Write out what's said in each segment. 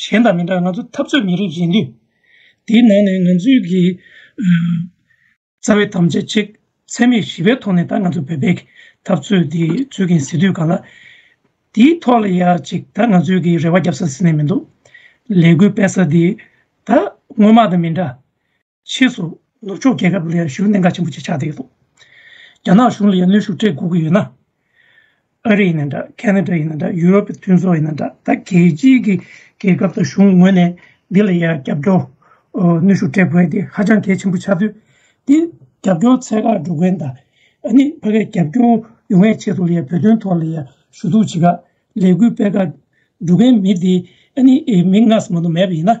གཞན་དང་མི་འདྲ་ང་ཚོ་འཐབ་རྩོད་མི་རིགས་ཡིན་དུས། དེའི་ནང་ནས་ང་ཚོའི་གི་རྩ་བའི་དམ་བཅའ་གཅིག་འཚེ་མེད་ཞི་བའི་ཐོག་ནས་ད་ང་ཚོ་བོད་པའི་འཐབ་རྩོད་དེ་རྩོད་ཀྱིན་ཟེར་དུས་ག་ལ། དེའི་ཐོག་ལ་ཡ་ཅིག་ད་ང་ཚོའི་གི་རེ་བ་རྒྱབ་ས་ཟིན་ནས་མི་འདུག་ལས་འགུལ་སྤེལ་ས་དེ་ད་སྔོན་མ་དང་མི་འདྲ། ཕྱིས་སུ་ནུབ་ཕྱོགས་རྒྱལ་ཁབ་ལ་ཡང་ཞུ་གནས་འགའ་ཆེན་པོ་ཅིག་ཆགས་བསྡད་ཡོད་འདུག་རྒྱ་ནག་གཞུང་ལ་ཡང་གནོད་ཤུགས་སྤྲད་དགོས་ཀྱི་ཡོད་ན། ཨ་རི་ཡིན་ན་འདྲ་ཁེ་ན་ཏྲ་ཡིན་ན་འདྲ་ཡུ་རོབ་ཀྱི་མཐུན་ཚོགས་ཡིན་ན་འདྲ་ད་གལ་ཆེའི་གི་རྒྱལ་ཁབ་དང་གཞུང་ངོས་ནས་འདི་ལ་ཡང་རྒྱབ་སྐྱོར། གནོད་ཤུགས་སྤྲད་དགོས་ཡ་འདི་ཧ་ཅང་གལ་ཆེན་པོ་ཆགས་དུས་འདི་རྒྱབ་སྐྱོར་ཚད་བཀག་འགྲོ་མཁན་དང་ཨ་ནི་ཕ་གས་རྒྱབ་སྐྱོར་ཡོང་བའི་ཆེད་དུ་ལ་ཡང་བོད་དོན་ཐོག་ལ་ཡང་ཞུ་གཏུག་བྱེད་དགའ་ལས་འགུལ་སྤེལ་དགའ་འགྲོ་མཁན་མི་འདི་ཨ་ནི་མི་སྔ་ས་མ་དོ་མེད་པ་ཡིན་ན།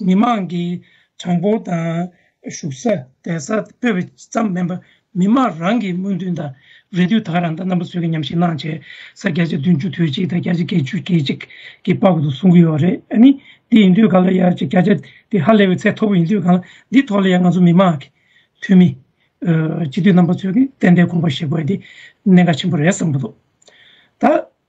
མི་མང་གི་གྲངས་འབོར་དང་བཞུགས་ས་བསྡད་ས་སྤོས་པའི་ཙམ་མིན་པར་མི་མང་རང་གི་སྨོན་འདུན་དང་རེ་འདུན་དག་རང་ལྟ་རྣམ་པ་ཚོས་ཀྱི་ཉམས་ཞིབ་གནང་བྱས་ས་བརྒྱ་ཆ་བདུན་ཅུ་དོད་གཅིག་དང་བརྒྱ་ཆ་བརྒྱད་ཅུ་གྱེས་གཅིག་གི་པར་དུ་གསུང་གི་ཡོད་རེད་ཨ་ནི། དེ་ཡིན་དུས་ག་ལ་ཡར་རྒྱས་བརྒྱ་ཆ་དེ་ཧ་ལས་པའི་ཚད་མཐོ་པོ་ཡིན་དུས་གང་ལ་འདི་ཐོག་ལ་ཡང་ང་ཚོ་མི་མང་གི་འཐུས་མི། སྤྱི་འཐུས་རྣམ་པ་ཚོས་ཀྱི་ཏན་ཏན་དགོངས་པ་བཞེས་དགོས་འདི་གནད་འགག་ཆེན་པོ་རེད་བསམ་གྱི་འདུག་ད།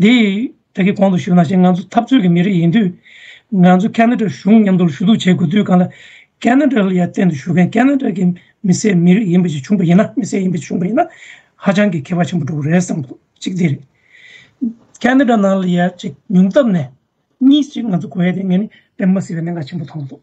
འདི་བདག་གིས་གོང་དུ་ཞུས་ན་ཞེས་ང་ཚོ་འཐབ་རྩོད་ཀྱི་མི་རིགས་ཡིན་དུས། ང་ཚོ་ཀ་ན་ཀྲའི་གཞུང་མཉམ་དུ་ཞུ་གཏུག་བྱེད་དགོས་དུས་གང་ལ་ཀ་ན་ཀྲ་ལ་ཡར་བརྟེན་དུ་ཞུ་མཁན་ཀ་ན་ཀྲ་གི་མི་སེར་མི་རིགས་ཡིན་པ་ཞིག་བྱུང་པ་ཡིན་ན་མི་སེར་ཡིན་པ་ཞིག་བྱུང་པ་ཡིན་ན་ཧ་ཅང་གི་ཁེ་བ་ཆེན་པོ་འགྲོ་གི་རེད་བསམ་ཐུབ་གཅིག་དེ་རེད། ཀ་ན་ཀྲ་ནང་ལ་ཡར་བྱེད་ཉུང་སྟབས་ནས། གཉིས་ཅིག་ང་ཚོ་གོ་ཡ་དེ་ངས་ནི་དཔེ་མ་སྲིད་པའི་གནད་འགག་ཆེན་པོ་མཐོང་འདུག།